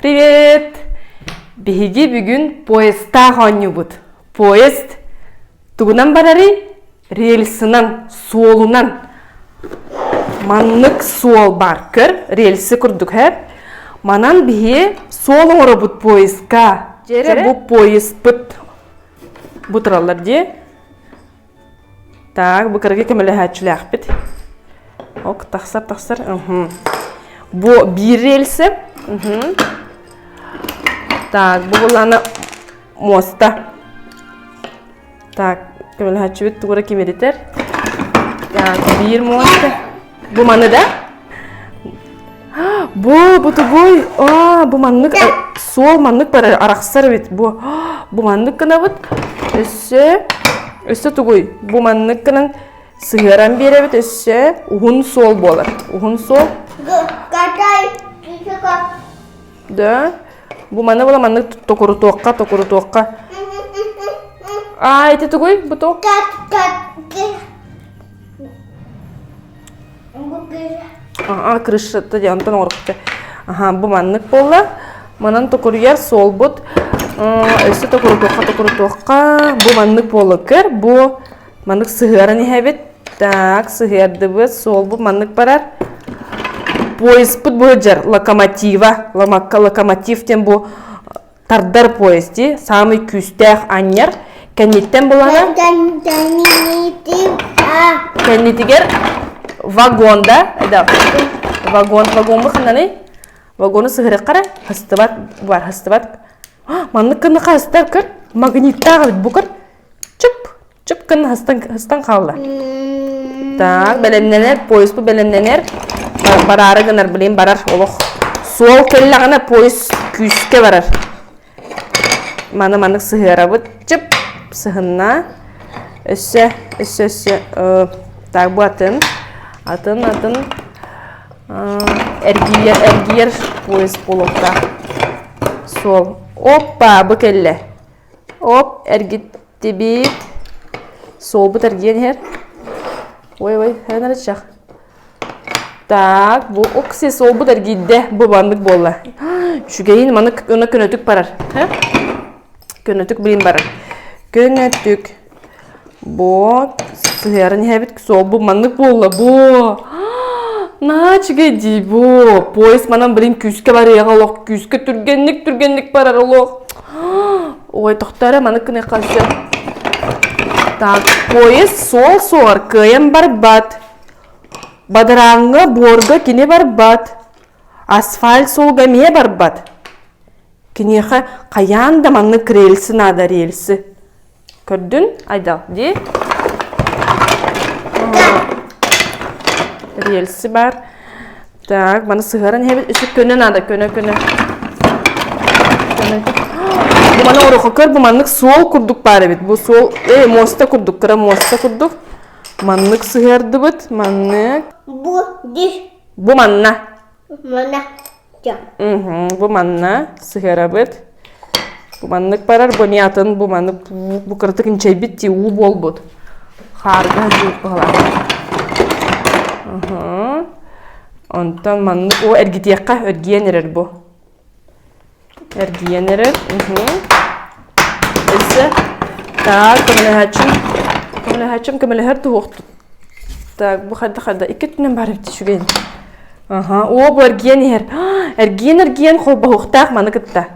Привет! Биһиги бүгүн поездтаах оонньуубут. Поезд тугунан барарый? Рельсынан, суолунан. Маннык суол бар. Көр, рельсы курдук хэ. Манан биһи суол оҥоробут поездка. Дьэрэ бу поездпыт. Бу тураллар дии. Так, быкырыгы көмөлөһөөччүлээхпит. Ок, тахсар-тахсар. Бу биир рельсэ. Так, бу буланы муоста. Так, көмөлөһөөччүбүт тугура кимиритер. Так, биир муоста. Бу маны да? Бу, бутугуй. А, бу маннык, э, суол маннык бар арахсар эбит бу. Бу маннык гынабыт. Өссө, өссө тугуй? Бу маннык гынан сыһыаран биэрэбит өссө уһун суол буолар. Уһун суол. Да. Бу маны була маннык токурутуохха, токурутуохха. А, ити тугуй бу туох? аа крышата диэн онтон оҥорукта аха бу маннык буолла манан токуруйар суолбут өссө токурутуохха токурутуохха бу маннык буола көр бу маннык сыһыаран иһэбит так сыһыардыбыт суолбут маннык барар поездпут будет локомотива локомотив диэн бу тардар поезди саамай күүстээх анньар кэнниттэн булана кэннитигэр вагонда вагон вагоҥҥа ханнаны вагону сыһырыққара хастыбат бар хастыбат маннык кыннаха хастар кыр магниттаах эбит бу кыр чып чып гынна һыстан һыстан хаалла так бэлэмнэнэр поезд бу бэлэмнэнэр бараары гынар блин барар олох суол кэллэҕинэ поезд күүскэ барар маны маннык сыһыарабыт чып сыһынна өссө өссө өссө так бу атын атын атын эргийэр эргийэр поезд буолуохтаах суол опа бу кэллэ оп эргиттибит суолбут эргийэн иһэр ой ой эн эрэ чах так бу укси суолбут эргийдэ бу маннык буолла үчүгэйин маннык гына көнөтүк барар көнөтүк блин барар көнөтүк Бо, сыһыаран иһэбит суолбу маннык буолла бо. На, чигэй дии бо. Поезд манан блин күүскэ барыаҕа олох, күүскэ түргэнник түргэнник барара олох. Ой, тохтара маннык кыны хасы. Так, поезд сол соғар кыйын барбат. Бадараңга борга кине барбат. Асфальт сол гамие барбат. Кинеха каян да манны крельсы нада рельсы. көрдүн айда дии рельсы бар так маны сыһаран иһэбит үсүк көнө надо көнө көнө бу маны орохо көр бу маннык суол курдук баар эбит бу суол э муоста курдук кыра муоста курдук маннык сыһыардыбыт маннык бу диш бу манна Мына дьон. Бу манна сыһыарабыт. Бу маннык барар, бу не атын, бу маннык бу кыратык инчэйбит ти уу буолбут. Хаарга жуут буолар. Онтон маннык о эргитиэххэ өргиэн эрэр бу. эргийэн эрэр өссө так көмөлөһөөччүм көмөлөһөөччүм көмөлөһөр туһуохтут так бу харда харда икки өттүнэн баар эбит үчүгэй аха оо бу эргийэн иһэр эргийэн эргийэн холбоһуохтаах маны кытта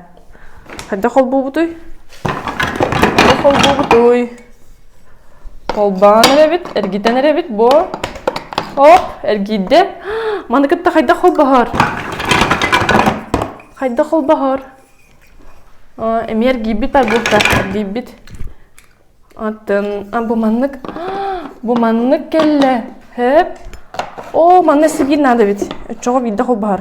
хайда холбуубутуй хайда холбуубутуй Холбоон эрэбит, эргитэн эрэбит буо. Оп, эргийдэ. Маны кытта хайдах холбоһор? Хайдах холбоһор? Эми эргийбит айбылта, эргийбит. Атын, бу маннык, бу маннык келле. Хөп. О, манна сигин надо бит. Өчөҕө биирдэ холбоһор.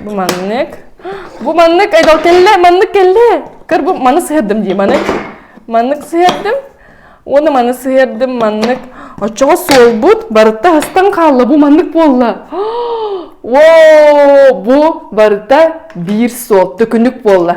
Бу маннык. Бу маннык. Айдал кэллэ. Маннык кэллэ. Көр бу маны сыһыардым дии маннык. Маннык сыһыардым. Уонна маны сыһыардым маннык. Оччоҕо суолбут барыта астан хаалла. Бу маннык буолла. Воу! Бу барыта биир суол. Төкүнүк буолла.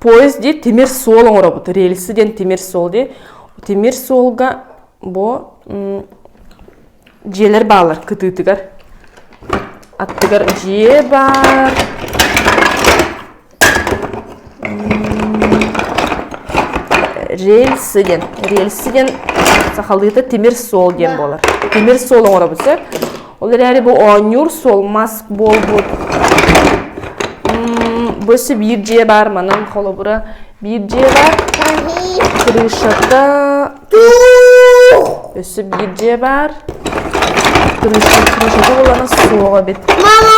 поезд дии тимир суол оҥоробут рельсы диэн тимир суол дии тимир суолга бу дьиэлэр баалар кытыытыгар аттыгар дьиэ баар рельсы диэн рельсы диэн сахалыыта тимир суол диэн буолар тимир суол оҥоробут сөп Ол эрээри бу оонньуур суол мас буолбут. Бөсө биир дьиэ баар манан холобура биир дьиэ бар. Крышата өссө биир дьиэ бар. Крыша крышата булана суоҕа бит. Мама,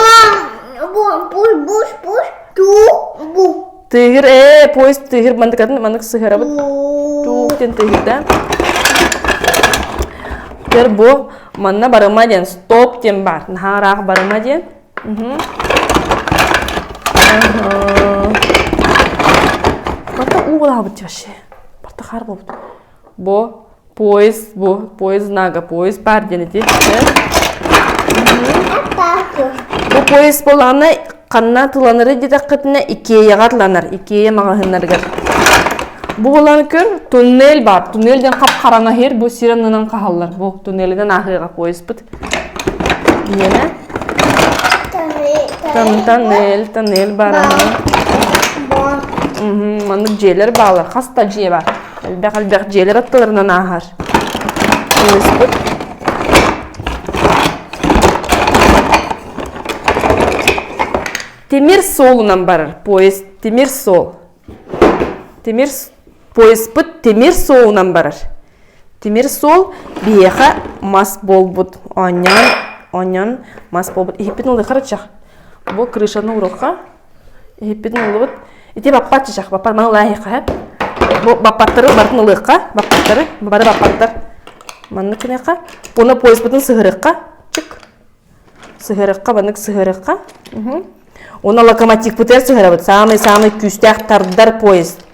буш буш буш ту бу. Тыыгыр, ээ, поезд тыыгыр мандыкатын маннык сыһарабыт. Туук диэн тыыгырда. Тер бу манна барыма диэн стоп диэн бар. Наһаараах барыма диэн. Угу. Барта уу булаабыт вообще. Барта хаар болбут. бу поезд бу поезд нага поезд баар диэн ити чэ бу поезд буолаана ханна туланары дитэххитинэ икеяҕа туланар икея маҕаһыыннарыгар бу буолан көр туннель бар туннель ден хап хараҥаһыр бу сир аннынан хааллар бу туннелинен аһыаҕа поездпыт Нина Танель Танель баараһын маннык дьиэлэр баалар хас да дьиэ баар элбэх элбэх дьиэлэр аттыларынан ааһар инниспит тимир суолунан барар поезд тимир суол тимир поезпыт тимир суолунан барар тимир суол биһиэхэ мас буолбут оонньоон оонньоон мас буолбут иһиппин ылыхар чах бу крышаны урулха иһиппин ылыбыт ити баппат чах баппат маны ылаахыха бу баппаттары бартын ылыахха баппаттары бары баппаттар маннык гыныахха уна поезпытын сыһырыахха чык сыһарыкка банык сыһарыкка уна локомотивпытыгар сыһарабыт самый-самый күүстээх тардар поезд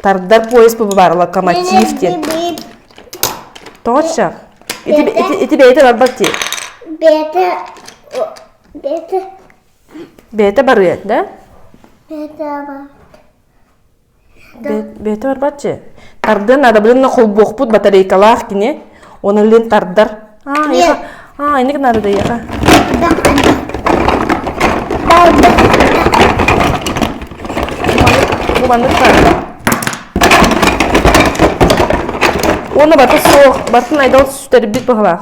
тардар поезд баар локомотив диэн точно ити бэйэтэ барбат ти бэйэтэ барыат да бэйэтэ бар бэйэтэ барбаччы тардыан надобренно холбуохпут батарейкалаах кини уона лин тардар аа инник нарадыйаха бу маннык баар уона бата суох батын айдал сүтэрбит баһылаах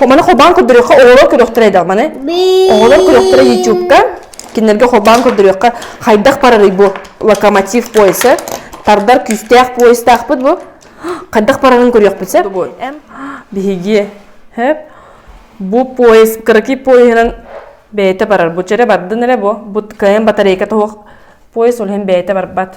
Маны холбаан көрдөрүөххэ оҕолор көрүөхтэрэ айдаҕманы. Оҕолор көрүөхтэрэ ютубка. Кинилэргэ холбаан көрдөрүөххэ хайдах барарый бу локомотив пояса. Тардар күүстээх поястаахпыт бу. Хайдах барарын көрүөхпүт сеп. Биһиги хөп бу пояс кыраки пояһынан бэйэтэ барар. Бу чэрэ бардын эрэ бу. Бу кайын батарейка тоһох пояс ол хэн бэйэтэ барбат.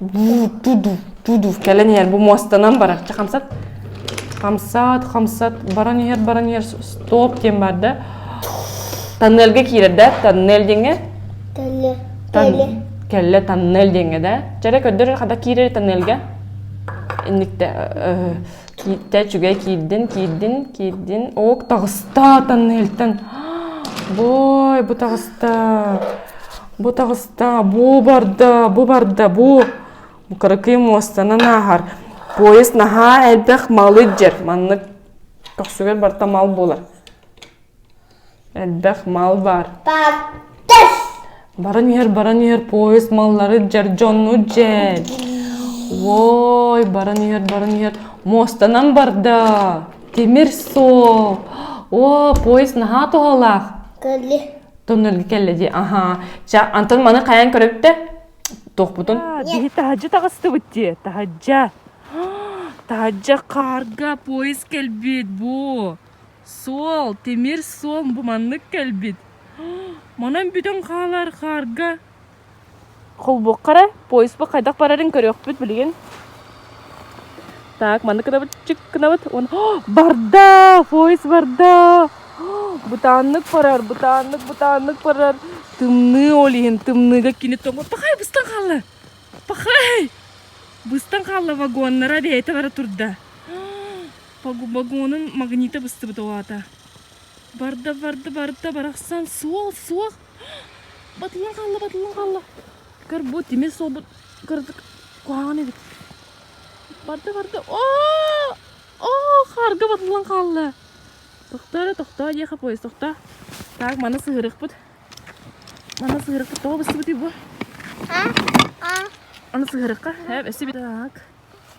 дуу-ду-ду-ду-ду кэлэн иһэр бу муостанан барар чэ хамсат хамсат хамсат баран иһэр баран иһэр стоп диэн баар да тоннельга киирэр да тоннель диэҥҥэ Тэллэ. тан- кэллэ тоннель диэҥҥэ да чэрэ көрдөр хата киирэр тоннельга инникте э, Кииттэ үчүгэй киирдин, киирдин, киирдин. Ок, таҕыста Таннелтан. Бой, бу таҕыста. Бу таҕыста, бу барда, бу барда, бу. Бу кыракый муостанан ааһар. Поезд наһаа элбэх малы дьэр. Маннык көхсүгэр барта мал буолар. Элбэх мал баар. Паптас! Баран иһэр, баран иһэр поезд маллары дьардьоннуу дьэл. Ой, баран иһэр, баран иһэр. Муостанан барда. Тимир суол. О, поезд наһаа туһалаах. Кэлли. Тоннелгэ кэллэ дии. Аха. Ча, Антон маны хайан көрөптө? Туохпутун? Биһи таһаджа таҕыстыбыт дии. Таһаджа. Таһаджа карга поезд кэлбит бу. Суол, тимир суол бу маннык кэлбит. Манан бүтөн хаалар хаарга. Холбуоххара, поезд хайдах барарын көрүөхпүт билигин. Так, маннык кынабыт, чик кынабыт. Барда! Поезд барда! Бутаннык барар, бутаннык, бутаннык барар. Тымныы ол иһин, тымныыга кини тоҥу. Пахай, быстан хаалла! Пахай! Быстан хаалла вагоннара, бэйэтэ бара турда. вагонун магнита быстыбыт аата барда барда барда барахсан суол суох батылын хаалла батылын хаалла көр бу тимир суолбут кырдык куһаҕан эбит барда барда оо оо харга батылын хаалла тохтоо тохтоо диэхэ поезд тохтоо так маны сыһырыкпыт маны сыһырыкпыт тоҕо быстыбытый бу аны сыһырыкка эб эсибит так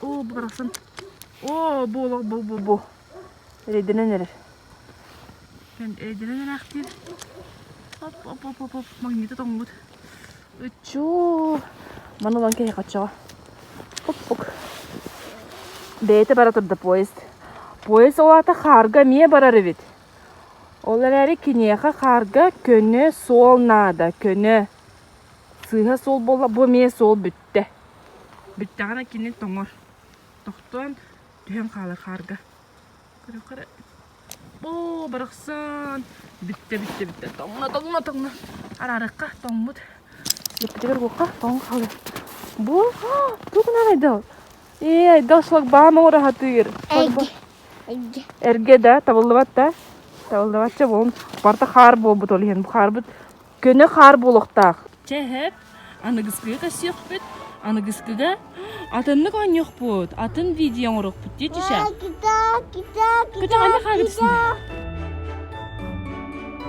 Оо, барахсан. Оо, буолуох бу бу бу. Эрэйдэнэн эрэр. Эрэйдэнэн эрээхтиир. Хоп хоп хоп хоп хоп магнита тоҥмут. Ыччуу. Маны ылан киһи хоччоҕо. Хоп хоп. Бэйэтэ бара турда поезд. Поезд ол аата хаарга эмиэ барар эбит. Ол эрээри киниэхэ хаарга көнө суол наада. Көнө. Сыыһа суол буолла, бу эмиэ суол бүттэ. Бүттэҕинэ кини тоҥор. Тохтоон түһэн хаалар хаарга. Көрө көрө. Оо барахсан бүттэ бүттэ бүттэ тоҥно тоҥно тоҥно. Араарыкка тоҥмут. Лэппитигэр буокка тоҥон хаалар. Бу туох гынан айдал? Ээ айдал шлагбаум оҥораһатыыр. Эргэ. Эргэ. Эргэ да табыллыбат да. Табыллыбатча буолун. Барта хаар буолбут ол иһин. Бу хаарбыт Көнө хаар буолуохтаах. Чэ эһэт, аныгыскыга көссүөхпүт. Аныгыскыга атыннык оонньуохпут. Атын видео оҥоруохпут дии Түшэ. Кута, кута, кута. Кута ханна хаалыбысын бэ?